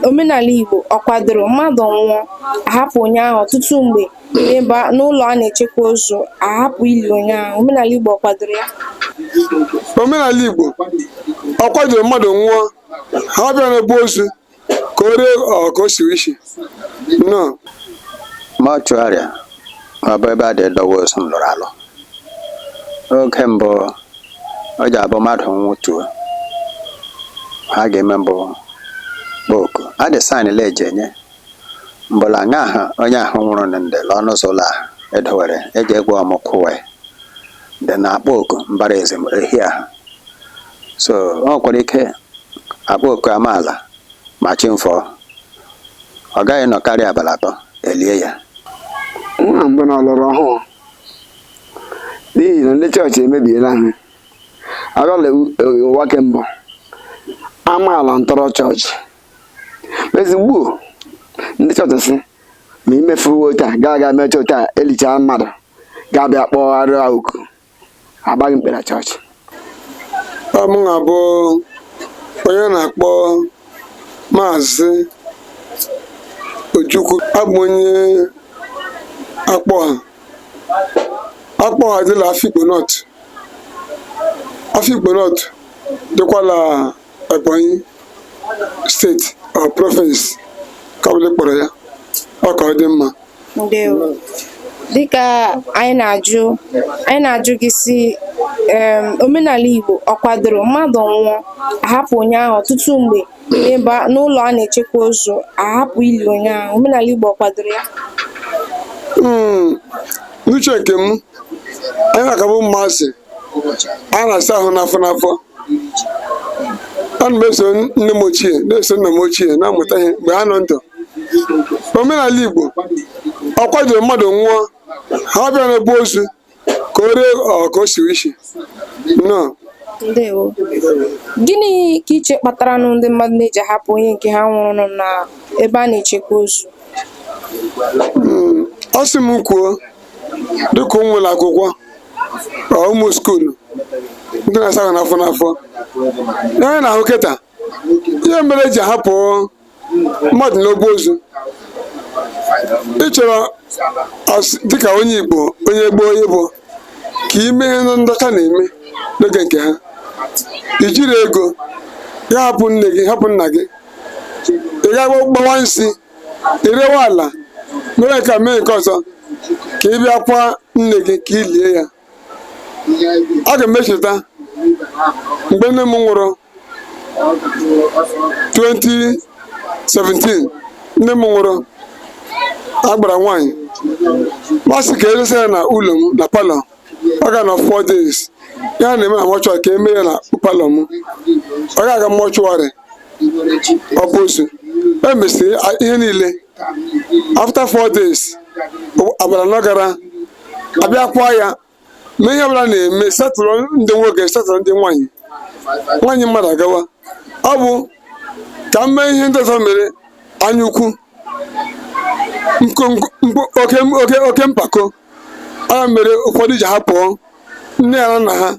omenala Igbo ọ kwadoro mmadụ nwụọ ahapụ onye ahụ ọtụtụ mgbe n'ebe n'ụlọ a na-echekwa ozu ahapụ ili onye ahụ omenala Igbo ọ kwadoro ya omenala Igbo ọ kwadoro mmadụ nwụọ hapụ ya n'ebe ozu ka o ree ọ ka o siwe isi nnọọ mọchụarị ọ bụ ebe a dị dọwa ozu m lụrụ alụ oge mbụ ọ ji abụ mmadụ nwụtuo ihe a ga-eme bụ kpọọ oku a dị saịn le eji enye mbụla nga ahụ onye ahụ nwụrụ na ndị la ọnụ ụzọ ụlọ ahụ edowere eji egwu ọmụ kwụwe dị na-akpọ oku mbara ezim ehi ahụ so ọ nwekwara ike akpọ oku amaala ma chi mfọọ ọ gaghị nọ karịa abalị atọ elie ya nwa mbụ na ọlọrọ ọhụụ n'ihi na ndị chọọchị emebiela ha agala ụwa ke mbụ amaala ntọrọ chọọchị ezigbo ndị chọọchị sị ma imefuwo taa gaa aga mee chọọchị a elichaa mmadụ ga-abịa kpọgharịa oku agbaghị mkpe na chọọchị ọ mụ na bụ onye a na-akpọ maazị Ojukwu abụ onye Akpọha Akpọha dị la Afikpo North Afikpo North dịkwa la Ebonyi steeti ọ province ka ọbụla kpọrọ ya ọ ka ọ dị mma ndewo dịka anyị na-ajụ anyị na-ajụ gị sị em, omenala igbo ọ kwadoro mmadụ nwụọ ahapụ onye ahụ ọtụtụ mgbe n'ebe a- n'ụlọ a na-echekwa ozu ahapụ ili onye ahụ omenala igbo ọ kwadoro ya Mm, n'uche nke m anyị na-aka bụ ụmụazị a na-asa ahụ n'afọ n'afọ ana m eso nne m ochie na-eso nna m ochie na-amụta ihe mgbe ha nọ ndụ omenala igbo ọ kwadoro mmadụ nwụọ hapụ ya n'ebe ozu ka o ree ọ ka o siwe isi nnọọ ndewo gịnị ka i che kpatara nụ ndị mmadụ na-eji ahapụ onye nke ha nwụrụ n'ebe a na-echekwa ozu a sị m kwuo dịka ụmụ ụlọ akwụkwọ ọ ụmụ skuulu ndị na-asa ahụ n'afọ n'afọ ihe anyị na-ahụ kịta ihe mere eji ahapụ mmadụ n'obu ozu ị chọrọ as- dịka onye igbo onye gboo onye bụ ka i mee ihe ndị ọcha na-eme n'oge nke ha i jiri ego gị hapụ nne gị hapụ nna gị ị ga gbawa nsi ị rewe ala mee nke a mee nke ọzọ ka ị bịa kwaa nne gị ka ị lie ya aga m echeta mgbe nne m nwụrụ 2017 nne m nwụrụ agbara nwaanyị m asị ka edesa ya na ụlọ m na palọ ọ ga-anọ four days ihe a na-eme na mọchụarị ka eme ya na palọ m ọ ga-aga mọchụarị ọ bụ ozu emesịa ihe niile after four days agbara na ọ gara abịa kwaa ya mee ihe ọbụla a na-eme settle ndị nwoke settle ndị nwaanyị nwaanyị mmadụ agawa ọ bụ ka m mee ihe ndị ọzọ mere anya ukwu oke mpako ya mere ụfọdụ ji hapụ nne ha na nna ha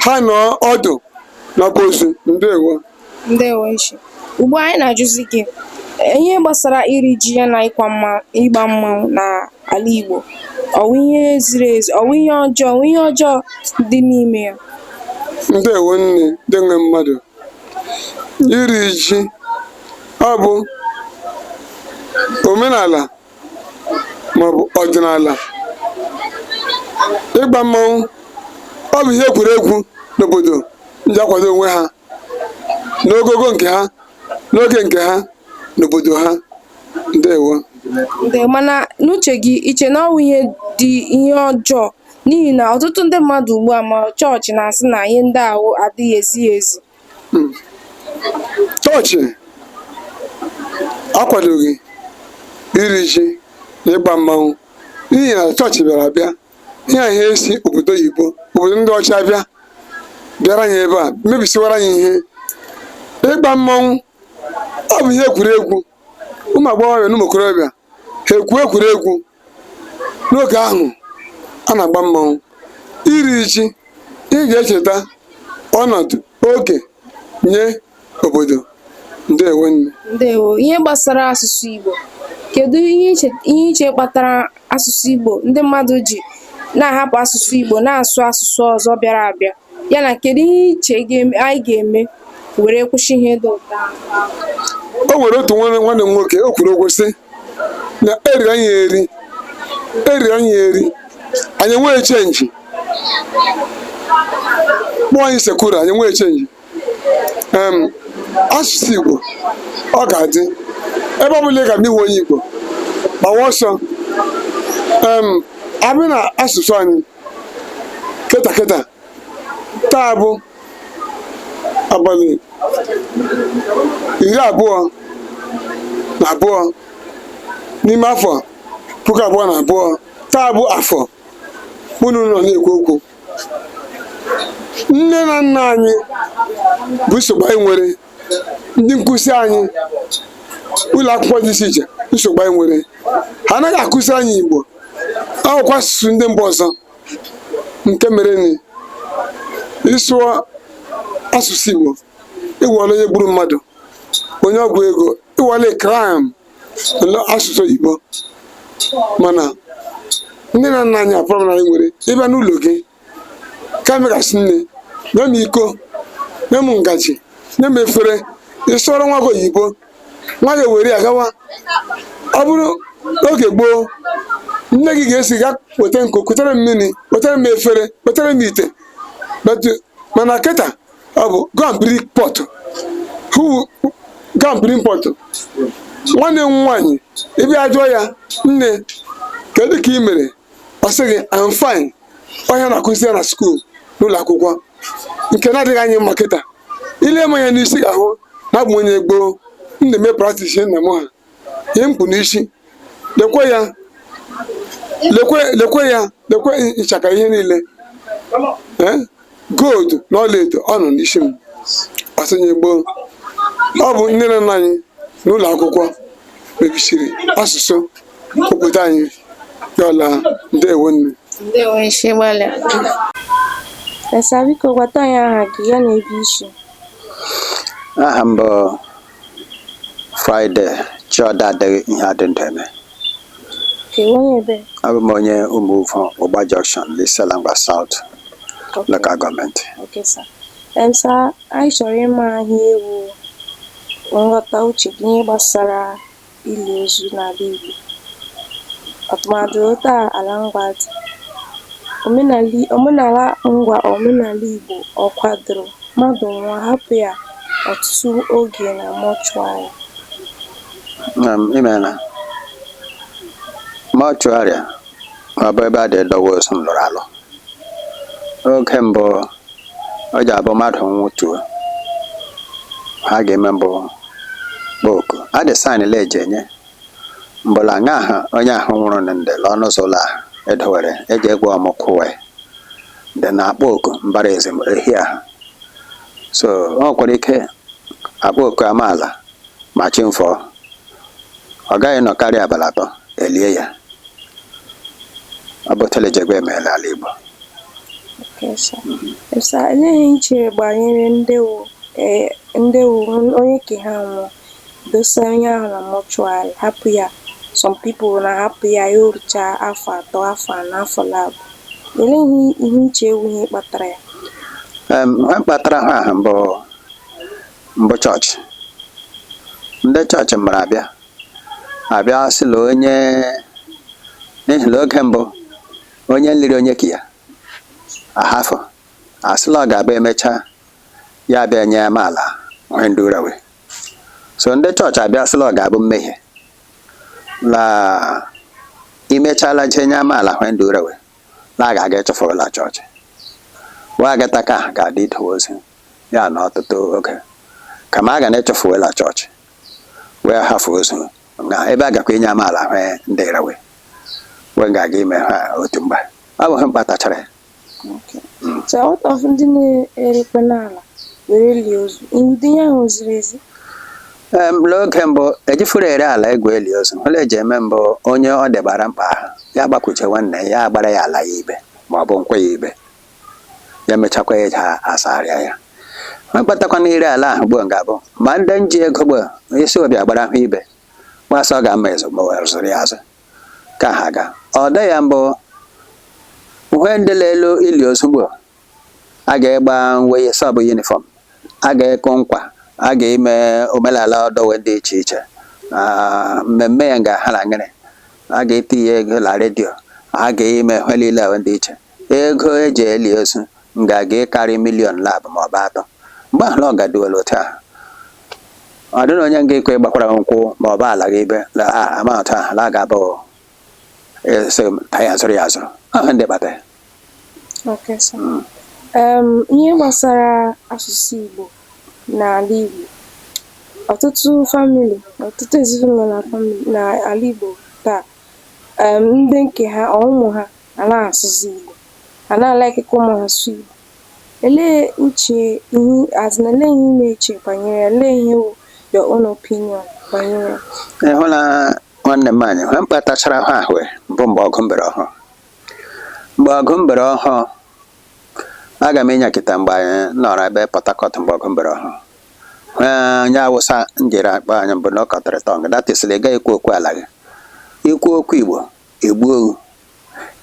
ha nọ ọdụ n'ọba ozu ndewo ndewo Ichie ugbu a anyị na-ajụzi gị ihe gbasara iri ji ya na ịgba mma ịgba mmanwụ n'ala Igbo ọ wụ ihe ziri ezi ọ wụ ihe ọjọọ ọ wụ ihe ọjọọ dị n'ime ya ndewo nne ndị nwe mmadụ iri ji ọ bụ omenala maọbụ ọdịnala ịgba mmanwụ ọ bụ ihe egwuregwu n'obodo ndị ji akwado onwe ha n'ogogo nke ha n'oge nke ha n'obodo ha ndewo Nde mana n'uche gị i che na ọ wụ ihe dị ihe ọjọọ n'ihi na ọtụtụ ndị mmadụ ugbu a ma chọọchị na-asị na ihe ndị ahụ adịghị ezi ezi chọọchị akwadoghị iri ji na ịgba mmanwụ n'ihi na chọọchị bịara abịa ihe a ihe esi obodo oyibo obodo ndị ọcha bịa bịara anyị ebe a mebisiwara anyị ihe ịgba mmanwụ ọ bụ ihe egwuregwu ụmụ agbọghọbịa na ụmụ okorobịa ha egwu egwuregwu n'oge ahụ a na-agba mmanwụ iri ji ị ga-echeta ọnọdụ oge nye obodo ndewo nne ndewo ihe gbasara asụsụ Igbo kedu ihe i che ihe i che kpatara asụsụ Igbo ndị mmadụ ji na-ahapụ asụsụ Igbo na-asụ asụsụ ọzọ bịara abịa ya na kedu ihe i che anyị ga-eme were kwụsị ihe dị otu a o nwere otu nwanne m nwoke o kwuru okwu sị na eriri anyị eri eriri anyị eri anyị enweghị chenji kpụọ anyị isi kuru anyị enweghị chenji asụsụ Igbo ọ ga-adị ebe ọ bụla ị ga ma ị hụ onye Igbo gbawa ọsọ abịa na asụsụ anyị kịta kịta taa bụ abalị iri abụọ na abụọ n'ime afọ puku abụọ na abụọ taa bụ afọ unu nọ na-ekwu okwu nne na nna anyị bụ nsogbu anyị nwere ndị nkụzi anyị ụlọ akwụkwọ dị iche iche nsogbu anyị nwere ha anaghị akụzi anyị igbo ọ wụkwa asụsụ ndị mba ọzọ nke mere na ị sụọ asụsụ igbo ị wụọla onye gburu mmadụ onye ọgwụ ego ị wụọla kriminal asụsụ igbo mana nne na nna anyị bụ problem anyị nwere ị bịa n'ụlọ gị kama ị ga-asị nne nye m iko nye m ngaji nye m efere ị sụọrọ nwa gị oyibo nwa gị were ya gawa ọ bụrụ n'oge gboo nne gị ga-asị gaa weta nkụ kutere m mmiri wetara m efere wetara m ite but mana kịta ọ bụ go and bring pot who go and bring pot nwanne m nwaanyị ị bịa jụọ ya nne kedu ka ị mere ọ sị gị I'm fine ọ ihe a na-akụzi ya na skuul n'ụlọ akwụkwọ nke na-adịghị anyị mma kịta i lee m anya n'isi ị ga-ahụ na abụ m onye gboo m na-eme praktis ihe nna m ha ihe m kpụ n'isi lekwe ya lekwe lekwe ya lekwe nchaka ihe niile Eh? gold na ọlaedo ọ nọ n'isi m a sị onye gboo ọ bụ nne na nna anyị na ụlọ akwụkwọ mebisiri asụsụ obodo anyị ya ọla ndewo nne ndewo isi gbalịa Esa biko gwata anyị aha gị ya na ebe i si aha m bụ Friday Chioda adịghị ihe a dị ndụ eme abụ m onye Umuvo Ugba Junction n'Isiala Ngwa South local gọọmenti anyị chọrọ ịma ihe wụ nghọta uche gị gbasara ili ozu n'ala Igbo. Tụmadị otu a ala ngwa dị, omenali omenala ngwa omenala Igbo ọ kwadoro mmadụ nwụọ hapụ ya ọtụtụ oge na mọchụarị? nna m i meela mọchụarịa ma ọ bụ ebe a dị edowe ozu m lụrụ alụ oge mbụ ọ ji abụ mmadụ nwụtuo ha ga-eme mbụ kpoku adị saịn le eji enye mbụla nga ahụ onye ahụ nwụrụ na ndị lụọ n'ụzọ ụlọ ahụ edowere eji egwu ọmụ kwụwe dị na-akpọ oku mbara ezi ehi ahụ so o nwekwara ike a kpọọ oku amaala ma chi fọ ọ gaghị nọ karịa abalị atọ e lie ya ọ bụ telejegbe eme la ala Igbo sa olee ihe i chere gbanyere nde wụ eh, nde wụ onye ke ha nwụọ dosa onye ahụ na mọchụarị hapụ ya some people na-ahapụ ya ya orucha afọ atọ afọ anọ afọ labụ olee ihe i chere wụ ihe kpatara ya ihe kpatara ha ahụ bụ mbụ chọọchị ndị chọọchị mbịara abịa abịa sị la onye n'ihi na oge mbụ onye nliri onye ke ya ahafụ a sị la ọ ga-abụ e mecha ya abịa nye amaala hwe ndụra we so ndị chọọchị abịa sị la ọ ga-abụ mmehie la ị mechala jee nye amaala hwe ndụra we la a ga-aga ịchụfụrụ la chọọchị wa agata ka a ga-adị idowe ozu ya na ọtụtụ oge kama a ga ịchụfụ we la chọọchị we ahafụ ozu na ebe a gakwa inye amaala hwe ndịra we we ga-aga ime ha otu mgbe ọ bụ hwe mkpatachara ya So out of ndị na-erikwe n'ala were lie ozu, ụdị ihe ahụ ziri ezi. Ee, m lee oge mbụ ejifuru ere ala egwu eli ozu hwe e ji eme mbụ onye ọ debara mkpa ahụ ya gbakwuche nwanne ya agbara ya ala ya ibe ma ọ bụ nkwụ ya ibe ya mechakwa ya eja asagharịa ya ma kpatakwa na ire ala ahụ gboo ga-abụ ma ndị nji ego gboo ị sị we bịa gbara ahụ ibe we asị ọ ga-ama ezo ma were zụrụ ya azụ ka ha ga ọ dị ya mbụ hwe ndị na-elu ili ozu gboo a ga-egba nwei sị ọ bụ yunifọm a ga-ekụ nkwa a ga-eme omenala ọdọ we dị iche iche Ah, mmemme ya ga-aha na ngịrị a ga-etinye ya na redio a ga-eme ihe niile ahụ dị iche Ego e ji eli ozu nga-aga ịkarị miliọn labụ ma ọ bụ atọ. Mgbe ahụ ọ gaduwela otu ahụ. Ọ dịghị onye nga ikwe ịgbakwara gị nkwụ ma ọ bụ ala gị ibe na amount ahụ la ga-abụ a sị ka ya zụrụ ya azụrụ. Ọ hwe ndị kpata ya. Okay, sir. Mm. Em, ihe gbasara asụsụ Igbo n'ala Igbo ọtụtụ famili ọtụtụ ezinụlọ na famili n'ala Igbo taa um ndị nke ha ọ ụmụ ha anaa asụzi Igbo anaa alaiki ka ụmụ ha sụ Igbo olee uche ihe as in olee ihe ị na-eche banyere ya olee ihe wụ your own opinion banyere ya ị hụla nwanne m anyị hwe mkpatachara hwe ahụ bụ mgbe ọgụ mbere ọhụụ mgbe ọgụ mbere ọhụụ aga m ịnyakịta mgbe anyị nọrọ ebe Port Harcourt mgbe ọgụ mbere ọhụụ onye awụsa m jiri akpa anyị mbụ cut your tongue that is na ị gaghị ekwu okwu ala gị ikwu okwu igbo egbuo owu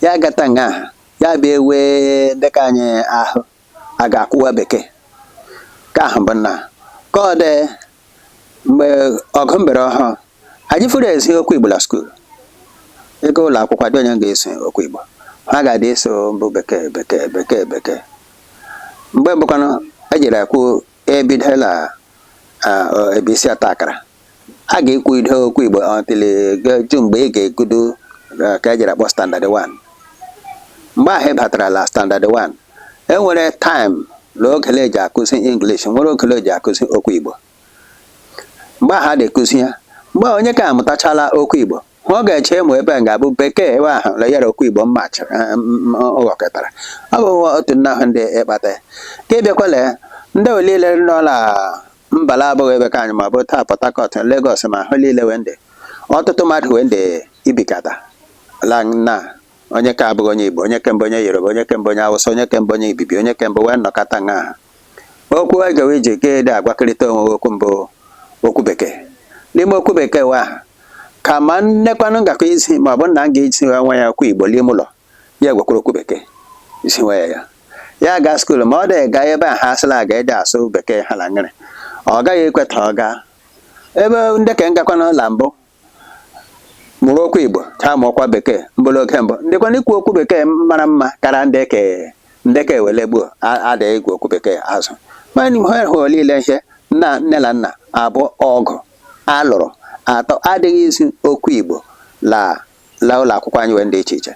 ya agata nga ahụ ya bịa ewe dịka onye ahụ a ga-akwụwa bekee ka ahụ bụ na ka ọ dị mgbe ọgụ mbere ọhụụ anyị fụrụ ezi okwu igbo na skuul ị gaa ụlọ akwụkwọ dị onye ga-ezi okwu igbo ihe a ga-adị ezi mbụ bekee bekee bekee bekee mgbe mbụkwanụ ejiri akwụ ebide la ebe isi ọta akara a ga-ekwugide okwu Igbo until ju mgbe ị ga-egudo ka ejiri akpọ standard 1 mgbe ahụ ị batarala standard 1 enwere time na ogele eji akụzi English nwere ogele eji akụzi okwu Igbo mgbe ahụ a na-akụzi ya mgbe onye ka amụtachala okwu Igbo ọ ga-eche ma ebe a ga-abụ bekee ebe ahụ na yara okwu igbo mma chịrị ghọkọtara ọ bụ otu nna ahụ ndị ịkpata ka ị bịakwa la ya ndị olile nọ na mba la abụghị ebe ka anyị ma bụ taa Port Harcourt Lagos ma ahụ niile wee ndị ọtụtụ mmadụ wee ndị ibikọta la nna onye ka abụghị onye igbo onye ke mbụ onye yoruba onye ke mbụ onye awụsa onye ke mbụ onye ibibi onye kemgbe wee nnọkọta nha okwu wa ga-eji ga-adị agwakịrịta onwe okwu mbụ okwu bekee n'ime okwu bekee wa ahụ ka ma nnekwanụ ngakọ izi ma ọ bụ nna ga-ezi nwa ya okwu igbo n'ime ụlọ ya gwakwara okwu bekee izi nwa ya ya ya ga skuul ma ọ dịghị gaa ebe a ha asịla a ga-adị asụ bekee ha na ngịrị ọ gaghị ekweta ọ gaa ebe nde ke ngakwanụ la mbụ mụrụ okwu Igbo ha mụọkwa bekee mbụrụ oge mbụ ndịkwanụ ikwu okwu bekee mara mma kara ndị ke ndị ka ewele gboo adịghị igwe okwu bekee azụ mana ihe hụ niile ihe nna nne na nna abụọ ọgụ alụrụ atọ adịghị izi okwu Igbo la la ụlọ akwụkwọ anyị wee dị iche iche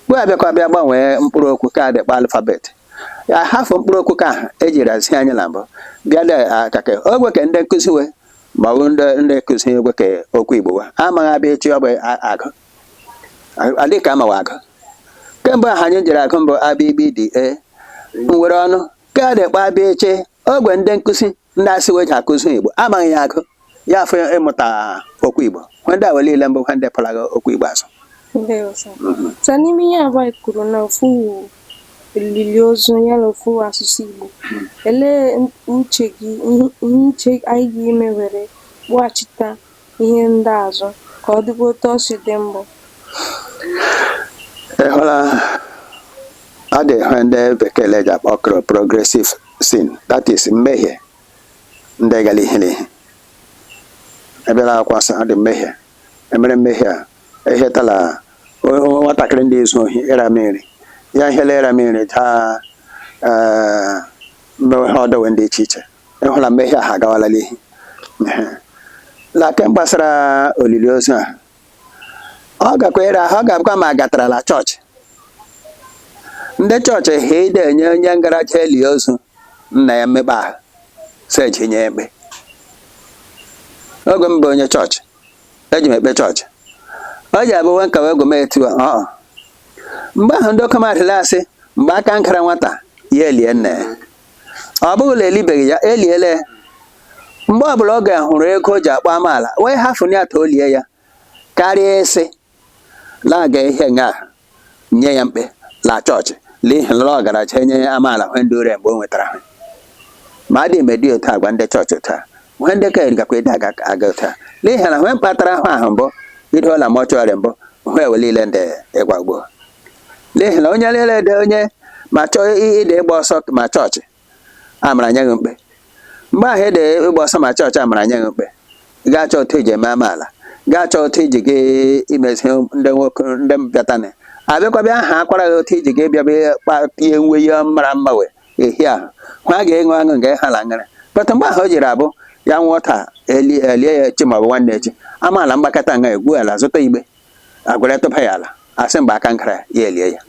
mgbe abịakwa bịa gbanwee mkpụrụ okwu ka adị akpọ alphabet hafụ mkpụrụ okwu ka ahụ ejiri ezi anyị na mbụ bịa de akake ogwe ka ndị nkụzi wee ma ọ bụ ndị ndị nkụzi we ke okwu igbo wa amaghị A B CH ọ bụ a- agụ adị ka amawa agụ ke mgbe ahụ anyị jiri agụ mbụ A B GB D e nwere ọnụ ka a dị akpọ A B CH ogwe ndị nkụzi ndị asị we ji akụzi igbo amaghị ya agụ ya fọ ịmụta okwu igbo ihe ndị wa niile mbụ ihe ndị kpụlaga okwu igbo azụ Ndewo sir. So n'ime ihe abụọ anyị kwuru na ofu elili ozu onye na-ekwu asụsụ Igbo. Olee uche gị ihe uche anyị ga-eme were kpụghachita ihe ndị a azụ ka ọ dịkwa otu ọ si dị mbụ? ịhụla ọ dị ihe ndị bekee ji akpọ kro progressive sin that is mmehie ndị gara ihu na ihu ebe na-akwasa ọ dị mmehie emere mmehie a ehetala o- o- nwatakịrị ndị ezu ohi ịra mmiri ya ihela ịra mmiri daa ee, mmewe ha ọ dọwe ndị iche iche ị hụla mgbe ihe a ha agawala n'ihu Ehe. na ke gbasara olili ozu a ọ gakwa ịra ahụ ọ ga-abụkwa ma a gatarala chọọchị ndị chọọchị ha ide enye onye ngaracha eli ozu nna ya mmekpa ahụ seji nye mkpe oge mbụ onye chọọchị eji m ekpe chọọchị ọ ji abụ nwe nka wee gome etu ọ mgbe ahụ ndị oke mmadụ asị mgbe aka nkara nwata ya elie nne ọ bụghị na elibeghị ya eliele mgbe ọbụla ọ ga-ahụrụ ego o ji akpọ amaala wee hafụ ya ta o lie ya karịa ịsị Laga ihe nga nye ya mkpe la chọọchị n'ihi la ọ garacha enye ya amaala hwe ndị ure mgbe o nwetara hwe ma adị eme dị otu agwa ndị chọọchị otu a hwe ndị ka erigakwa ịdị aga aga otu a n'ihi na hwe mkpatara ahụ ahụ mbụ ido la mọchụarị mbụ hwe ewe niile ndị ịgwa ugbo n'ihi na onye niile dị onye ma chọọ ịdị ịgba ọsọ ma chọọchị amara nye ya mkpe mgbe ahụ ede ịgba ọsọ ma chọọchị amara nye ya mkpe gaa chọọ otu eji eme amaala gaa chọọ otu iji gị imezi ndị nwoke ndị bịatanị abịakwabịa aha akwara gị otu iji gị bịaba kpapie uwe ya mara mma wee ehi ahụ hụ a ga-enwe aṅụ nke ha la ngara pata mgbe ahụ o jiri abụ ya nwụọ taa elie ya echi maọbụ nwanne echi amaala mgbakọta nga egwu ala zụta igbe agwara tụba ya ala asị mgbe aka nkara ya elie ya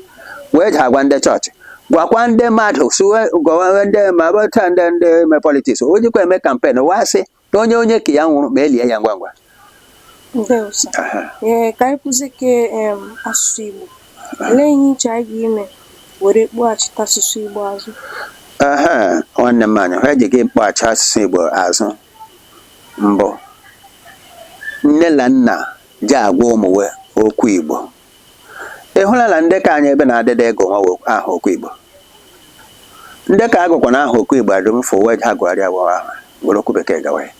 wee ji agwa ndị chọọchị gwakwa ndị mmadụ suwe gwawa ndị ma bụta ndị ndị me politiks o jikwa eme kampen wee sị na onye onye ke ya nwụrụ ma elie ya ngwa ngwa ndewo sir Aha. ee ka anyị kwuzie ka em, asụsụ igbo olee ihe i che anyị ga-eme were kpọghachite asụsụ igbo azụ Aha, nwanne m anyị ha ji ga-akpọghachi asụsụ Igbo azụ mbụ nne na nna ji agwa ụmụ we okwu Igbo. Ị hụla na ndị ke anyị ebe na-adịda agụ nwa we aha okwu Igbo. Ndị ke agụkwa na aha okwu Igbo adịm fụ we ha gụgharịa we aha were okwu bekee gawa ya.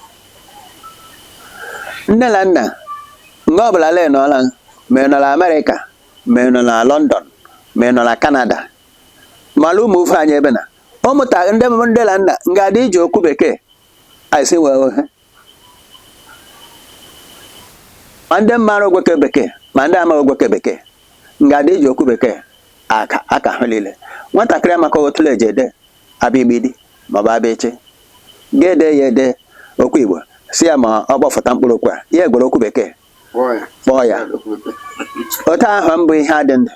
Nne na nna nga ọbụla le nọla ma ị nọ na Amerịka ma ị nọ na London ma ị nọ na Kanada ma la ụmụ ofe anyị ebe na ụmụta ndị ndị na nna nga adị iji okwu bekee anyị si wee ohe ma ndị mara okwu ke bekee ma ndị amaghị okwu ke bekee nga adị eji okwu bekee aka ụka ha niile nwatakịrị amaka otu la eji ede a b gb d maọbụ a b ch ga-ede ya ede okwu igbo sị ya ma ọ kpọfụta mkpụrụ okwu a ya egwere okwu bekee kpọọ ya otu ahụ mbụ ihe adị ndụ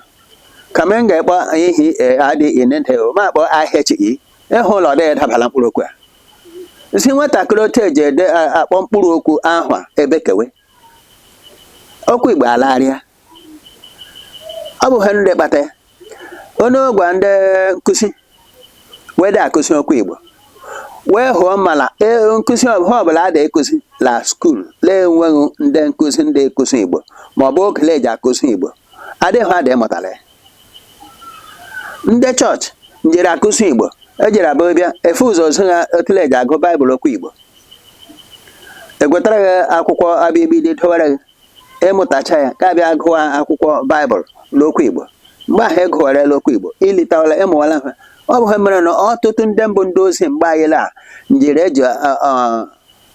kama m ga-akpọ ihe adị inede ma kpọọ ahịa chi ịhụ ụlọ ọ dịghị dabala mkpụrụ okwu a si nwatakịrị otu eji ede akpọ mkpụrụ okwu ahụ a ebekewe okwu igbo alagharịa ọ bụ ha ndị kpata ya onye gwa ndị nkụzi wee dị akụzi okwu igbo wee hụọ mala e, nkụzi he ọbụla a na-ekụzi la skuul na-enweghị ndị nkụzi ndị akụzi igbo ma ọ bụ okele eji akụzi igbo adịghị adị mụtara ya ndị chọọchị njiri akụzi igbo ejiri abụ bịa efe ụzọ zi ha okele eji agụ baịbụl okwu igbo egwetara gị akwụkwọ abịgbịdị dowere gị ịmụtacha ya ka bịa gụwa akwụkwọ baịbụl n'okwu igbo mgbe ahụ ị gụwarela okwu igbo ilitawala ịmụwala ha ọ bụ he mere na ọtụtụ ndị mbụ ndị ozi mgbe anyị la njiri eji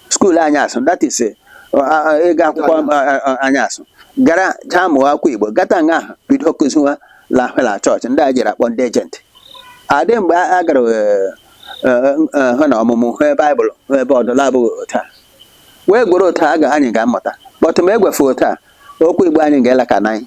skuul anyasụ that is eh, a- a- ịga akwụkwọ a- a- a- anyasụ gara jaa mụọ akwụkwọ igbo gata nga ahụ bido kụziwa lahụla chọọchị ndị a jiri akpọ ndị ejenti adị mgbe a a gara eh, eh, eh, hụ na ọmụmụ he baịbụl hụ ebe ọdụla abụghị otu a wee gwere otu a ga anyị ga-amụta but ma egwefe otu a okwu igbo anyị ga-alakwa n'iyi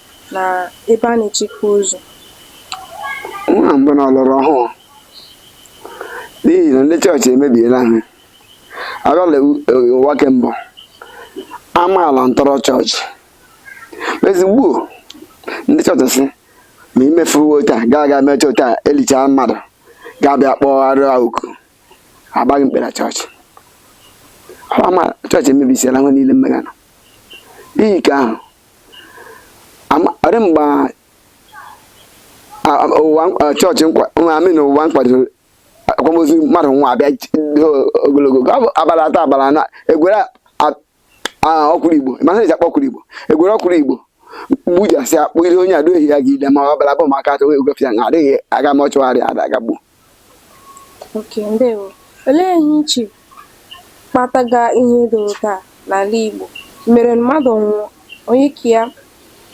na ebe a na-echekwa ozu. Nwa mbụ na ọlọrọ ọhụụ n'ihi na ndị chọọchị emebiela ha abịala ụwa ke mbụ amaala ntọrọ chọọchị ezigbo ndị chọọchị sị ma imefuwo taa gaa aga mee chọọchị a elichaa mmadụ ga-abịa kpọgharịa oku agbaghị mkpere chọọchị chọọchị emebisiela he niile mmegana n'ihi ke ahụ ọ dị mgbe ụwa chọọchị I mean ụwa nkwadoro akwamozu mmadụ nwụa abịa ogologo abalị atọ abalị anọ egwere ọkwụrụ igbo mana eji akpọ ọkwụrụ igbo egwere ọkwụrụ igbo gbujasị akpụ ihe onye adịghị ya gị ile ma ọ bụla bụ maka atụ egwefịa na adịghị aga mọchụarị ada agagbu Okay, ndewo. Olee ihe ị che kpataga ihe dị otu a n'ala Igbo mere mmadụ nwụọ, onye ke ya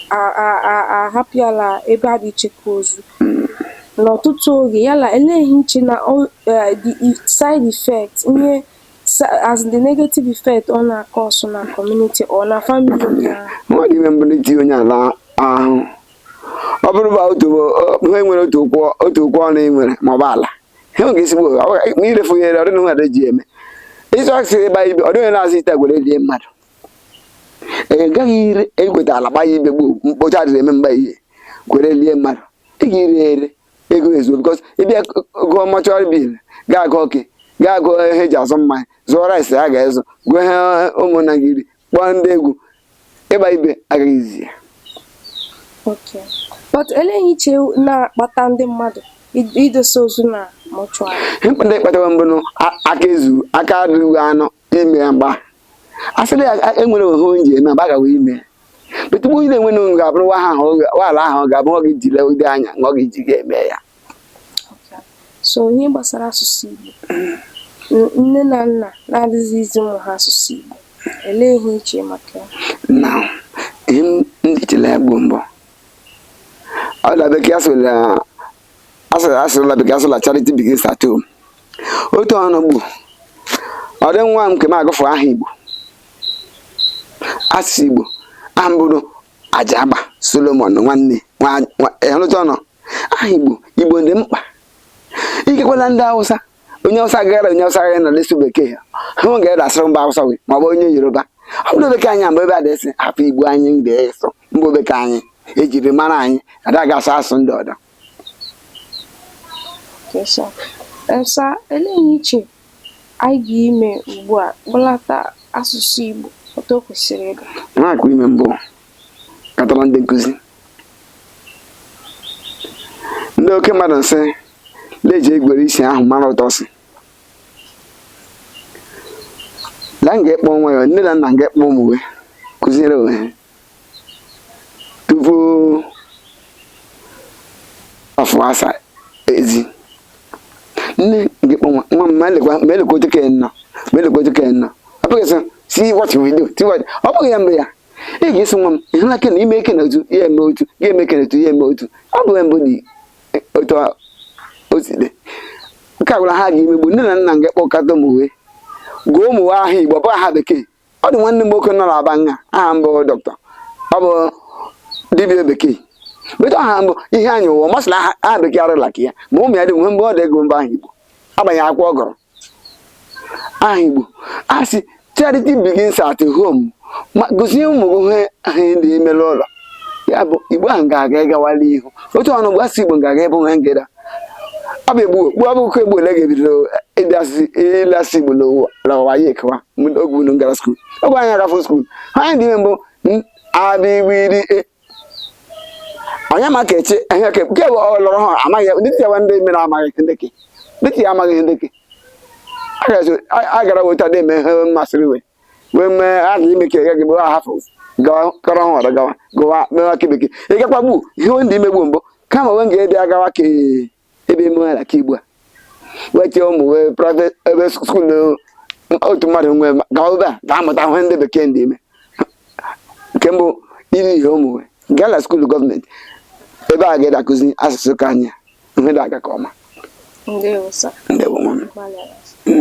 ahapịala ebe a na-echekwa ozu n'ọtụtụ oge yala elee ihe ị che na eh, the e, side effect ihe as the negative effect ọ na-acause na community or na family mmadụ ime mbụ na-eti onye ala ahụ ọ bụrụ ba otu ha nwere otu ụkwụ otu ụkwụ ọnụ ị nwere maọbụ ala ha nwere ezigbo ma irefu ya ere ọdịna nwere ji eme ịsụ asị ebe anyị ọ dịghị na-asị ite gwere lie mmadụ ị gaghị ire ekweta ala gbanye ibe gboo mkpocha dịrị eme mgba ihe gwere lie mmadụ ị ga-ire ere ego ezuo bikọs ịbịa gụọ mọchụarị bil ga-agụ ọkị ga-agụ ihe eji azụ mmanya zụọ rice a ga-ezụ gụọ ihe ụmụnna ga-eri kpọọ ndị egwu igba ibe agaghị izi ya but olee ihe i che na-akpata ndị mmadụ idosa ozu na mọchụarị ihe kpatara mbụ aka ezu aka adịghị anọ ime ya mgba asịrị ya e nwere ohe onye ji eme mgbe a gawa ime betupu onye na-enwe n'ụlọ ga-abụrụ nwa ahụ nwaala ahụ ga-abụ nwa gị jile ụdị anya nwa gị ji ga-eme ya so ihe gbasara asụsụ Igbo nne na nna na-adịghị izi ụmụ ha asụsụ Igbo olee ihe i che maka ya na ihe m ji chela ya gbuo mbọ ọ na bekee asịla asịla bekee asịla charity begins at home otu ọnụ gbu ọ dị nwa m nke m agụfụ aha Igbo asụsụ Igbo aha m bụrụ Ajagba Solomon nwanne ịhụlụcha ọnụ aha igbo igbo dị mkpa ikekwana ndị awụsa onye awụsa gara onye awụsa gara na lesu bekee ha nwe ga-ede asụrụ mba awụsa wee ma ọ bụ onye yoruba ọ bụrụ bekee anyị mgbe ebe a dịsị hapụ igbo anyị mgbe ịsụ mgbe bekee anyị ejiri mara anyị ada ga-asụ asụsụ ndị ọdọ esa elee ihe i che anyị ga-ime ugbu a kpọlata asụsụ igbo otu o kwesịrị ịga na-akụ ime mbụ katọrọ ndị nkụzi ndị oke mmadụ sị la e ji egwere isi ahụ mara ụtọ nsị la m ga-ekpọ nwa ya nne na nna m ga-ekpọ ụmụ we kụziere onwe ha tupu afọ asa ezi nne nke kpọnwa nwa m ma elekwa ma elekwa otu ka ya nọ ma elekwa otu ka ya nọ ọ bụghị sị see what you will do see what ọ bụghị ya mgbe ya ị ga-asị nwa m ị hụla kena ime kena otu ya eme otu ya eme kena otu ya eme otu ọ bụ mbụ dị otu o si dị nke a gwara ha ga imegbu nne na nna nga kpọkọta ụmụ we gụọ ụmụ we aha igbo bụ aha bekee ọ dị nwanne m nwoke nọ n'aba nha aha mbụ dọkịta ọ bụ dibịa bekee but aha mbụ iheanyị ụwa masịrị aha bekee arịla ka ya mma ụmụ ya dị nwe mbụ ọ dị agụ mbụ aha igbo agbanye akwụkwọ ọ gụrụ aha Igbo a sị charity begins at home ma gozie ụmụ gị ha ndị emere ụlọ ya bụ Igbo ahụ ga-aga ịgawala ihu otu ọnụ bụ asụsụ Igbo ga-aga ebe onwe ngịda ọ bụ egbu okpu ọbụkọ egbu ole ga-ebido ịbịa sụ Igbo n'ụwa ya ekewa oge unu gara skuul oge anyị agafụ skuul ihe anyị dị ime mbụ a bị gbị dị onye ma ka eche ihe ka nke bụ ọlọrọ ha amaghị ndị ti yawa ndị mere amaghị ndị ke ndị ti ya amaghị ndị ke a gara weta dị eme ihe masịrị we wee mee a ga ime ka ya gị bụ a hafụ gawa kọrọ ihe ọdọ gawa gawa mewa ke bekee ị gakwa gbu ihe ndị imegbu mbụ kama wee ga-ede agawa ka ebe ime ala ka ugbu a wee chee ụmụ wee private ebe skuul na otu mmadụ nwe gawa ebe a ga-amụta ihe ndị bekee ndị ime nke mbụ iri ihe ụmụ wee gaa na skuul gọọmenti ebe a ga-adị akụzi asụsụ nke anyị ihe dị aga ka ọma ndewo sa ndewo nwa m gbalịara